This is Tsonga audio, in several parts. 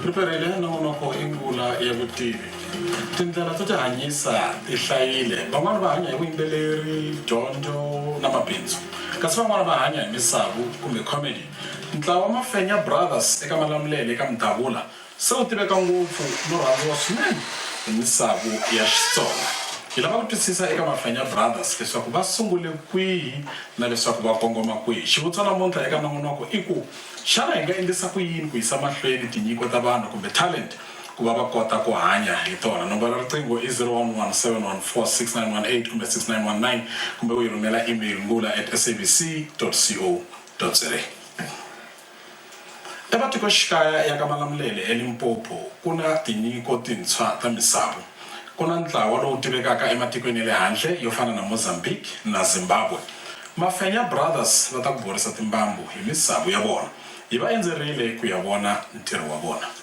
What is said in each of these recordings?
riperile nongonoko i ngula ya vutivi tindlela to tihanyisa ti hlayile van'wani va hanya hi vuyimbeleri dyondzo na mabindzu Kasi van'wana va hanya hi misavu kumbe comedy. Ntlawa wa Mafenya Brothers eka Malamulele eka Mdavula se wu tiveka ngopfu no rhandziwa swinene hi misavu ya Xitsonga. Hi lava ku twisisa eka Mafenya Brothers leswaku va sungule kwihi na leswaku va kongoma kwihi. Xivutiso namuntlha eka Nongonoko i ku, xana hi nga endlisa ku yini ku yisa mahlweni tinyiko ta vanhu kumbe talent? ku va va kota ku hanya hi tona. Nomboro ya riqingho i 0117146918 kumbe 6919 kumbe u yi rhumela email ngula at sabc co za. Ematikoxikaya ya ka Malamulele eLimpopo ku na tinyiko tintshwa ta misavu. Ku na ntlawa lowu tivekaka ematikweni ya le handle yo fana na Mozambique na Zimbabwe. Mafenya Brothers va ta ku borisa timbambu hi misavu ya vona. Hi va endzerile ku ya vona ntirho wa vona.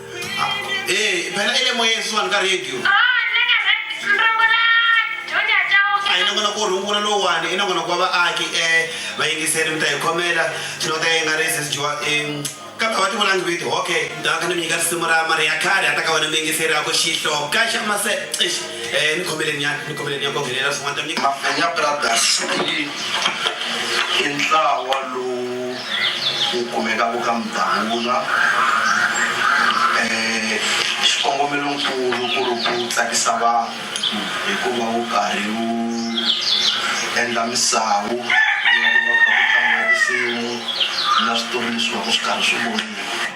Eh, phela ile moya isiwani ka radio a yi nangona ku rungula lowani i nangona ku va vaaki um vayingiseri mi ta hi khomela swilo ta yi nga ri sesijiwa um kambe va ti vulangi viti okay ni ta va kha ni mi nyika risimu ra mari ya khale a ta ka wena muyingiseri a ku xihloka xa mase Eh, ni khomele ni ya ni khomele ni ya kovelela swin'wana ta nyika Mafenya Brothers i i ntlawa lowu wu kumekaka ka Mdavula eh xikongomelonkulu ku ri ku tsakisa vanhu hikuva wu karhi wu endla misawu ya ku va kha ku tlanga tinsimu na switori leswi va ku swi karhi swi voniwa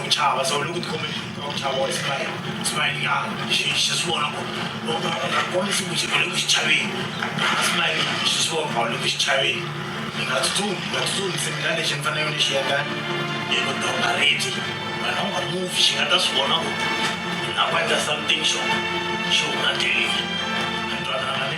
ku chava se u le ku tikhomeni ka ku chava wa sivayele sivayenyana xi xi swi vona ku u nga u nga kombisi ku xi u le ku xi chaveni a simayele xi swi vona u le ku xi chaveni mi nga tsutsumi mi nga tsutsumi se mina lexi ni fanele ni xi endla i ku donga reti wena u nga muvi xi nga ta swi vona ku ni lava ku endla something xo xi huma teleni mi twanana ni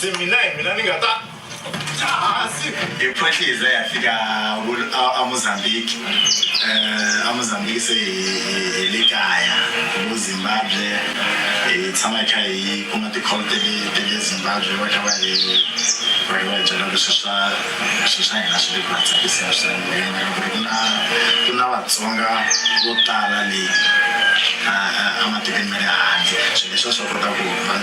se mina hi mina ni nga ta kasi hi khwehlize ya fika amozambique um amozambique se hi le kaya vo zimbabwe hi tshama hi kha hi kuma tikholo tele zimbabwe va kha va hi va kha va hi byela ku swi swa swi swa hina swi le ku va tsakiseni swinene ku yimela ku ri ku na ku na vatsonga vo tala leyi ematikweni ma le handle swilo leswi va swi kota ku va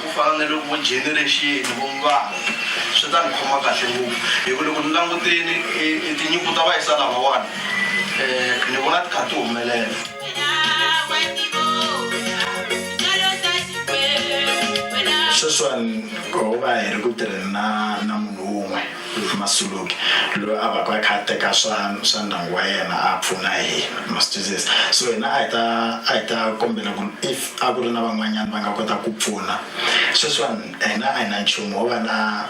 Ku fana ni loko vo generexini, vo mbango, swi ta ni khoma kahle ngopfu hi ku loko ni languteni e tinyimpi ta vayisa lavawani ni vona ti kha ti humelela. Sweswiwani ho va hi ri ku tirheni na munhu un'we. Ruth Masuluke loyi a vaku a kha a teka swa swa ndyangu wa yena a pfuna hi ma swi twisisa so hina a hi ta a hi ta kombela ku if a ku ri na van'wanyana va nga kota ku pfuna sweswiwani hina a hi na nchumu ho va na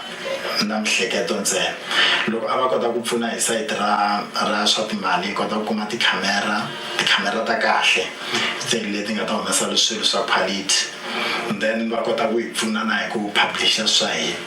na mihleketo ntsena loko a va kota ku pfuna hi sayiti ra ra swa timali hi kota ku kuma tikhamera tikhamera ta kahle ti leti nga ta humesa swilo swa quality then va kota ku hi pfuna na hi ku publisher swa hina.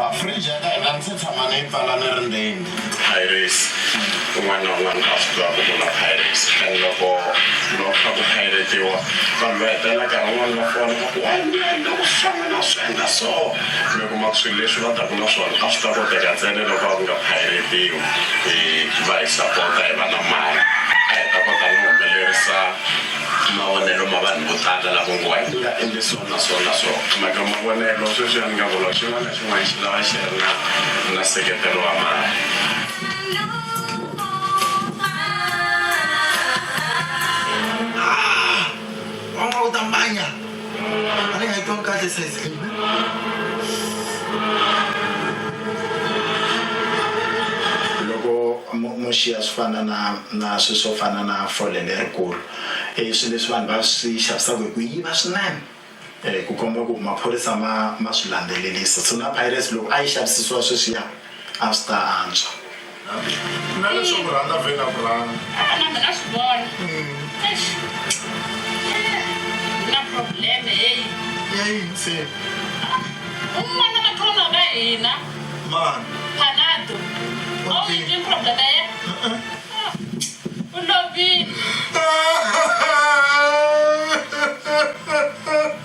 A fridge ya ka hina ni se tshama ni yi pfala ni ri ndzeni. Piracy, Un'wana na un'wana a swi tiva ku ku na piracy and loko va ku kha ku pirate-iwa vanhu va hetelela nkarhi wun'wana va fona va ku hayi mbilu a yi na ku hlangana a swi endla so mi kuma ku swilo leswi va taka na swona a swi ta koteka ntsena loko a ku nga pirate-iwi hi va hi sapota hi va na mali a hi ta kota no humelerisa Mavonelo ma vanhu vo tala lavo ngo, A ndzi nga endli so na so na so. Mhaka mavonelo, sweswiya ni nga vula, xin'wana na xin'wana xi lava xi ri na na nseketelo wa mali. Haa! Mama u ta mbanya! a ni nga yi twangi kahle size leyi loko mo xiya swi fana na na swi swo fana na fole lerikulu i e, swilo leswi vanhu va swi xavisaka hi ku yiva swinene um ku komba ku maphorisa ma ma swi landzelelisa so na pirates loko a yi xavisisiwa sweswiya A swi ta antswa. Na leswo ku rhandza vhe na ku rhandza. Ah, na mina swi vona. Mm. Eish. Eh, na problem hey. Ya yini se? Ah, un'wana matrona wa ka hina. Mani? Panado. Okay. Awu yini problem ya yena? Uh -uh. Ah, u lovile.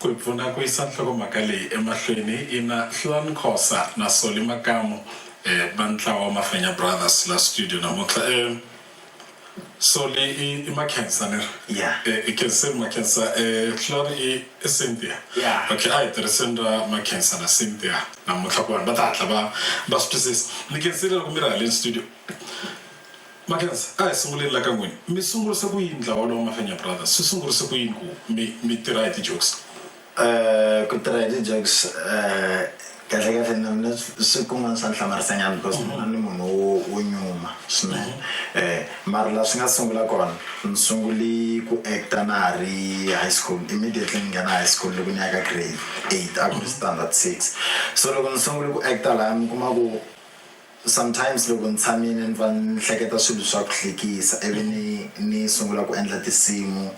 Ku hi pfuna ku yisa nhlokomhaka leyi emahlweni, ina Hluani Khosa na Solly Makamu va ntlawa wa Mafenya Brothers la studio namuntlha. Solly i i Makhensa ni ri? Yeah. I Khenseni Makhensa, Hluani i i Cynthia? Yeah. Okay, a hi tirhiseni ra Makhensa na Cynthia namuntlha ku vanhu va ta hatla va va swi twisisa. Ni khensile loko mi ri haleni studio. Makhensa, A hi sunguleni la ka n'wina. Mi sungurise ku yini ntlawa wolowo Mafenya Brothers? Swi sungurise ku yini ku mi mi tirha hi ti-jokes? Ku tirha hi ti-jokes kahlekahle na mina swi kun'wana swa ni hlamarisenyana because mina ni munhu wo wo nyuma swinene mara la swi nga sungula kona ni sunguli ku act-a na ha ri high school immediately ni nghena high school loko ni ya ka grade eight a ku ri standard six so loko ni sungule ku act-a laya mi kuma ku Sometimes loko ni tshamile ni pfa ni hleketa swilo swa ku hlekisa ivi ni ni sungula ku endla tinsimu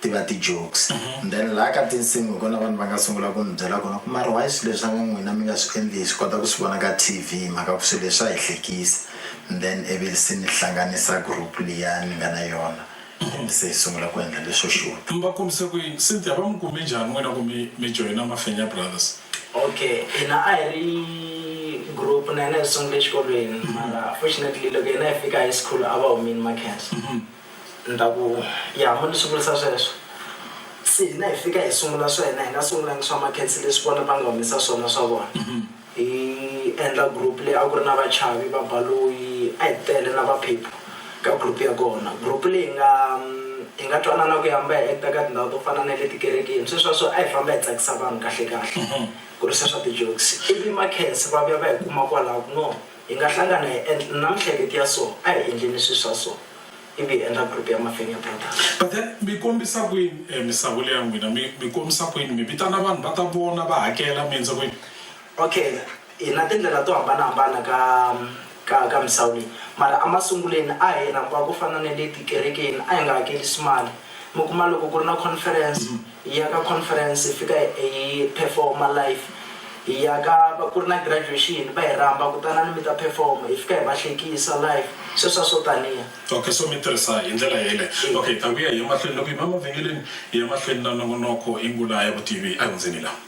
ti va ti-jokes and then laha ka tinsimu hi kona vanhu va nga sungula ku ni byela kona ku mara why swilo leswi a nga n'wina mi nga swi endli hi swi kota ku swi vona ka T_V hi mhaka ku swilo leswi swa hi hlekisa and then ivi se ni hlanganisa group liya ni nga na yona. Mhani se hi sungula ku endla leswo xuta. Mi va kombise ku yini? Cynthia, Va mi kume njhani n'wina ku mi mi joyina Mafenya Brothers? Okay, hina a hi ri group na hina hi sungule exikolweni mara fortunately loko hina hi fika high school a va humini Makhensa ni ta ku ya mo ni swi vurisa sweswo se hina hi fika hi sungula swa hina hi nga sungulangi swa Makhensa leswi vona va nga humesa swona swa vona. Hi endla group leyi a ku ri na Vachavi, Vabaloyi, a hi tele na Vaphephu ka group ya kona. Group leyi hi nga hi nga twanana ku hamba hi actor ka tindhawu to fana na le tikerekeni. Sweswo a swi a hi famba hi tsakisa vanhu kahle kahle ku ri se swa ti-jokes. Ivi makhensi va vuya va hi kuma kwalaho ku no hi nga hlangana hi endla na minhleketi ya so a hi endleni swilo swa so. ivi hi endla group ya Mafenya Brothers. But then mi kombisa kwini eh, misavu leya n'wina mi, mi kombisa kwini mi vitana vanhu va ta vona va hakela mi endza kwini Okay, hi na tindlela to hambanahambana ka ka ka misawu leyi mara emasunguleni a hi rhamba ku fana na le tikerekeni a hi nga hakerisi mali mi kuma loko ku ri na conference hi ya ka conference hi fika hi perform live hi ya ka va ku ri na graduation va hi rhamba kutanani mi ta perform hi fika hi va hlekisa live sweswa swo taniya okay so mi tirhisa hi ndlela yele okay hi ta vuya hi emahlweni loko hi ma mavhengeleni hi ya mahlweni na nongonoko i ngula ya vutivi a hundzeni laha